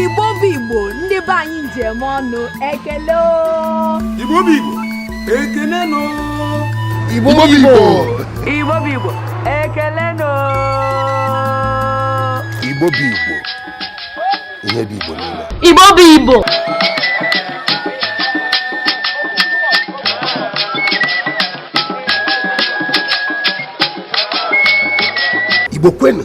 igbo bụ igbo ndị be anyị njem ọnụ ekele o. Igbo bụ Igbo, ekele nụ. Igbo bụ Igbo. Igbo bụ Igbo, ekele nụ. Igbo bụ Igbo. Ihe bụ Igbo niile. Igbo bụ Igbo. Igbo kwenu.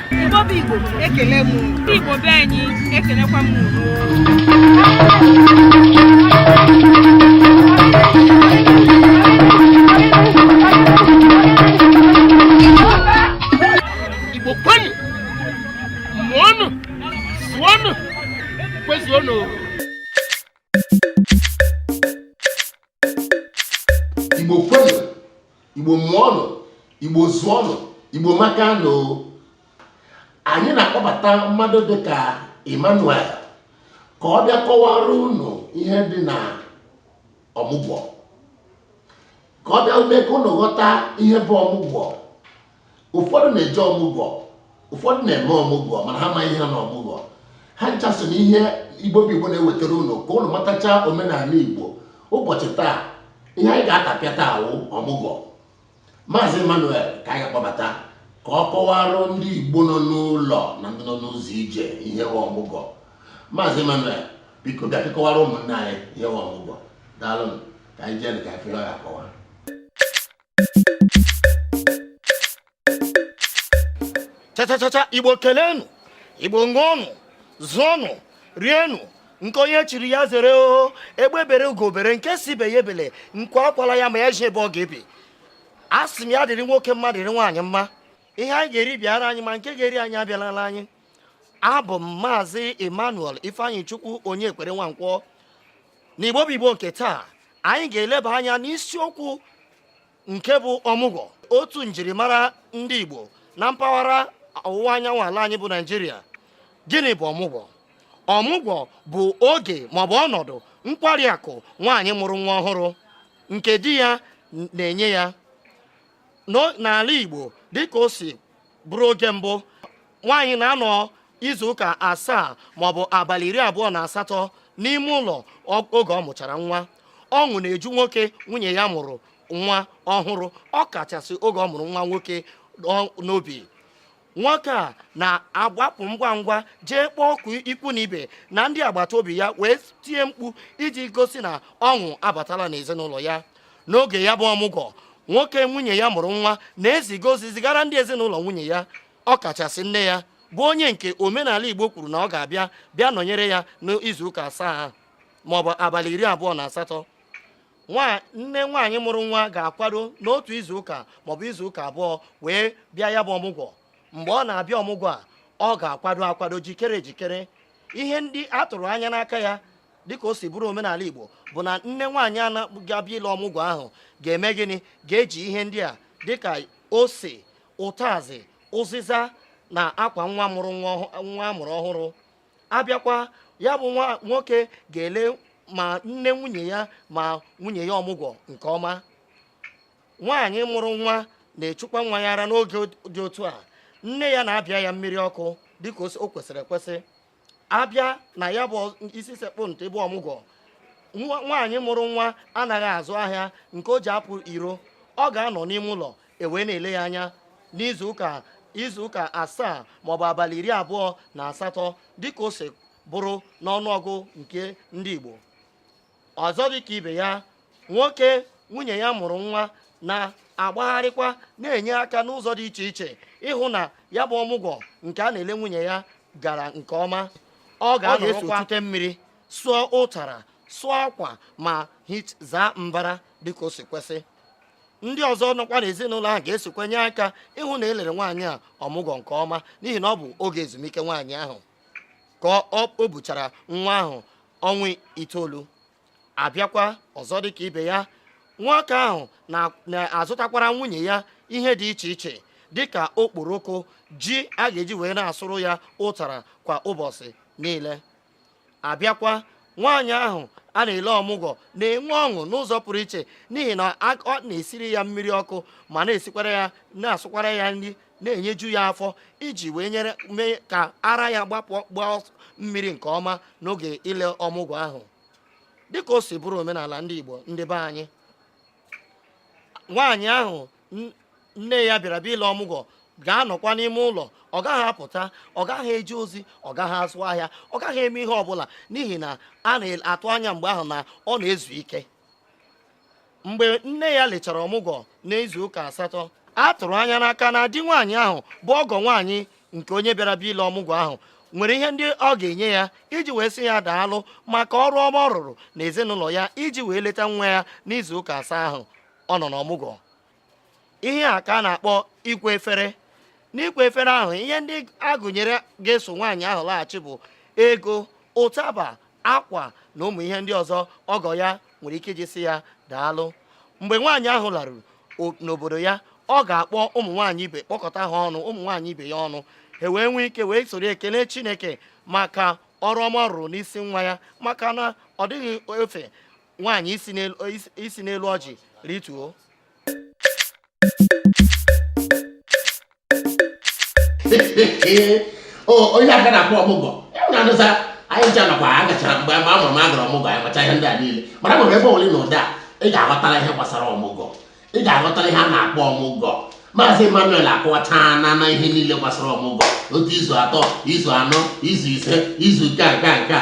Igbo bụ Igbo ekele m Igbo be anyị ekelekwa m Igbo kwenu mụọnụ zụọnụ kwezuonụ igbo kwenụ igbo mụọnụ igbo zụọnụ igbo amaka nụ anyị na-akpọbata mmadụ dịka emmanuel ka ọ bịa kọwara unu ihe dị na ọmụgwọ ka ọ bịa mee ka unu ghọta ihe bụ ọmụgwọ ụfọdụ na-eje ọmụgwọ ụfọdụ na-eme ọmụgwọ mana ha ma ihe dị na ọmụgwọ ha ncha so n'ihe igbo bụ igbo na-ewetara unu ka unu matacha omenala igbo ụbọchị taa ihe anyị ga-atapịa taa wụ ọmụgwọ maazị emmanuel ka anyị ga-akpọbata ka ọ kọwara ndị igbo nọ n'ụlọ na ndị nọ n'ụzọ ije ihe wụ ọmụgwọ maazị emmanuel biko bịa ka ị kọwara ụmụnne anyị ihe wụ ọmụgwọ daalụ ka anyị jee ka anyị fere ya akọwa chachachacha igbo kelenu igbo ṅụọnụ zụọnụ rienụ nke onye chiri ya zere o egbe bere ugo bere nke sị ibe ya ebele nku akwala ya ma ya zi ebe ọ ga-ebe a sị m ya dịrị nwoke mma dịrị nwaanyị mma ihe anyị ga-eri bịara anyị ma nke ga-eri anyị abịalala anyị abụ m maazị emmanuel ifeanyịchukwu onyekwere nwankwọ n'igbo bụ igbo nke taa anyị ga-eleba anya n'isiokwu nke bụ ọmụgwọ otu njirimara ndị igbo na mpaghara ọwụwa anyanwụ ala anyị bụ naijiria gịnị bụ ọmụgwọ ọmụgwọ bụ oge maọbụ ọnọdụ nkwari akụ nwaanyị mụrụ nwa ọhụrụ nke di ya na-enye ya n'ala Igbo dịka o si bụrụ oge mbụ nwaanyị na-anọ izu ụka asaa maọbụ abalị iri abụọ na asatọ n'ime ụlọ oge ọ mụchara nwa ọṅụ na-eju nwoke nwunye ya mụrụ nwa ọhụrụ ọ kachasị oge ọ mụrụ nwa nwoke n'obi nwoke a na-agbapụ ngwa ngwa jee kpọọ oku ikwu na ibe na ndị agbata obi ya wee tie mkpu iji gosi na ọṅụ abatala n'ezinụlọ ya n'oge ya bụ ọmụgwọ nwoke nwunye ya mụrụ nwa na-eziga ozi zigara ndị ezinụlọ nwunye ya ọ kachasị nne ya bụ onye nke omenala Igbo kwuru na ọ ga-abịa bịa nọnyere ya n'izuụka asaa maọbụ abalị iri abụọ na asatọ nne nwaanyị mụrụ nwa ga-akwado n'otu izu ụka maọbụ izu ụka abụọ wee bịa ya bụ ọmụgwọ mgbe ọ na-abịa ọmụgwọ a ọ ga-akwado akwado jikere ejikere ihe ndị a tụrụ anya n'aka ya dịka o si bụrụ omenala Igbo bụ na nne nwaanyị a na-abịa ile ọmụgwọ ahụ ga-eme gịnị ga-eji ihe ndị a dịka ose ụtazị ụzịza na akwa nwa mụrụ nwa a mụrụ ọhụrụ abịakwa ya bụ nwa nwoke ga-ele ma nne nwunye ya ma nwunye ya ọmụgwọ nke ọma nwaanyị mụrụ nwa na-echukwa nwa ya ara n'oge dị otu a nne ya na-abịa ya mmiri ọkụ dịka o kwesịrị ekwesị abịa na ya bụ isi sekpu ntị bụ ọmụgwọ nwaanyị mụrụ nwa anaghị azụ ahịa nke o ji apụ iro ọ ga-anọ n'ime ụlọ e wee na-ele ya anya n'izu ụka izu ụka asaa maọbụ abalị iri abụọ na asatọ dịka o si bụrụ n'ọnụọgụ nke ndị Igbo ọzọ dịka ibe ya nwoke nwunye ya mụrụ nwa na-agbagharịkwa na-enye aka n'ụzọ dị iche iche ịhụ na ya bụ ọmụgwọ nke a na-ele nwunye ya gara nke ọma ọ ga-anọrọkwa chute mmiri sụọ ụtara sụọ akwa ma zaa mbara dịka o si kwesị ndị ọzọ nọkwa n'ezinụlọ ahụ ga-esokwa nye aka ịhụ na e lere nwaanyị a ọmụgwọ nke ọma n'ihi na ọ bụ oge ezumike nwaanyị ahụ ka o buchara nwa ahụ ọnwa itoolu abịakwa ọzọ dịka ibe ya nwoke ahụ na-azụtakwara nwunye ya ihe dị iche iche dịka okporoko ji a ga-eji wee na-asụrụ ya ụtara kwa ụbọchị niile abịakwa nwaanyị ahụ a na-ele ọmụgwọ na-enwe ọṅụ n'ụzọ pụrụ iche n'ihi na a na-esiri ya mmiri ọkụ ma na-esikwara ya na-asụkwara ya nri na-enyeju ya afọ iji wee nyere mee ka ara ya gbapụ gbaa mmiri nke ọma n'oge ile ọmụgwọ ahụ dịka o si bụrụ omenala ndị Igbo ndị be anyị nwaanyị ahụ nne ya bịara bịa ile ọmụgwọ ga-anọkwa n'ime ụlọ ọ gaghị apụta ọ gaghị eje ozi ọ gaghị azụ ahịa ọ gaghị eme ihe ọbụla n'ihi na a na-atụ anya mgbe ahụ na ọ na-ezu ike mgbe nne ya lechara ọmụgwọ n'izu ụka asatọ a tụrụ anya n'aka na di nwaanyị ahụ bụ ọgọ nwaanyị nke onye bịara bịa ile ọmụgwọ ahụ nwere ihe ndị ọ ga-enye ya iji wee sị ya daalụ maka ọrụ ọma ọ rụrụ na ezinụlọ ya iji wee leta nwa ya n'izu ụka asaa ahụ ọ nọ n'ọmụgwọ ihe a ka a na-akpọ ịkwa efere n'ịkwa efere ahụ ihe ndị a gụnyere ga-eso nwaanyị ahụ laghachi bụ ego ụtaba akwa na ụmụ ihe ndị ọzọ ọgọ ya nwere ike iji sị ya daalụ mgbe nwaanyị ahụ laruru n'obodo ya ọ ga-akpọ ụmụ nwaanyị ibe kpọkọta ha ọnụ ụmụ nwaanyị ibe ya ọnụ ha wee nwee ike wee soro ekele chineke maka ọrụ ọma ọ rụrụ n'isi nwa ya maka na ọ dịghị ọfe nwaanyị isi n'elu ọjị rituo ihe a ka a na-akpọ ọmụgwọ na-adụsa anyị ncha nakwa a gachara mgbe mgbe a mụrụ m a gara ọmụgwọ anyị macha ihe ndị a niile mana nwere ebe ole na ụdị a ị ga-aghọtara ihe gbasara ọmụgwọ ị ga-aghọtara ihe a na-akpọ ọmụgwọ maazị emmanuel akọwacha na na ihe niile gbasara ọmụgwọ otu izu atọ izu anọ izu ise izu nke a nke a nke a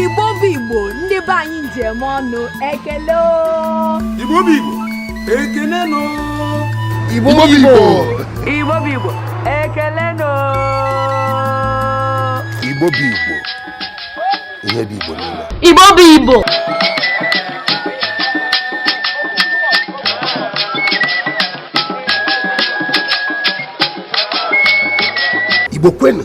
Igbo bụ Igbo ndị be anyị eji m ọnụ ekele o. Igbo bụ Igbo ekele nụ. Igbo bụ Igbo. Igbo bụ Igbo ekele nụ. Igbo bụ Igbo ihe bụ Igbo niile. Igbo bụ Igbo. Igbo kwenu.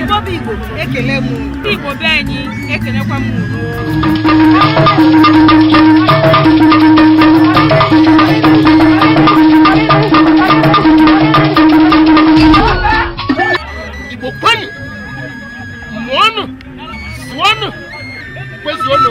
Igbo bụ Igbo ekele m Igbo be anyị ekelekwa m Igbo kwenu mụọnụ sụọnụ kwezuonụ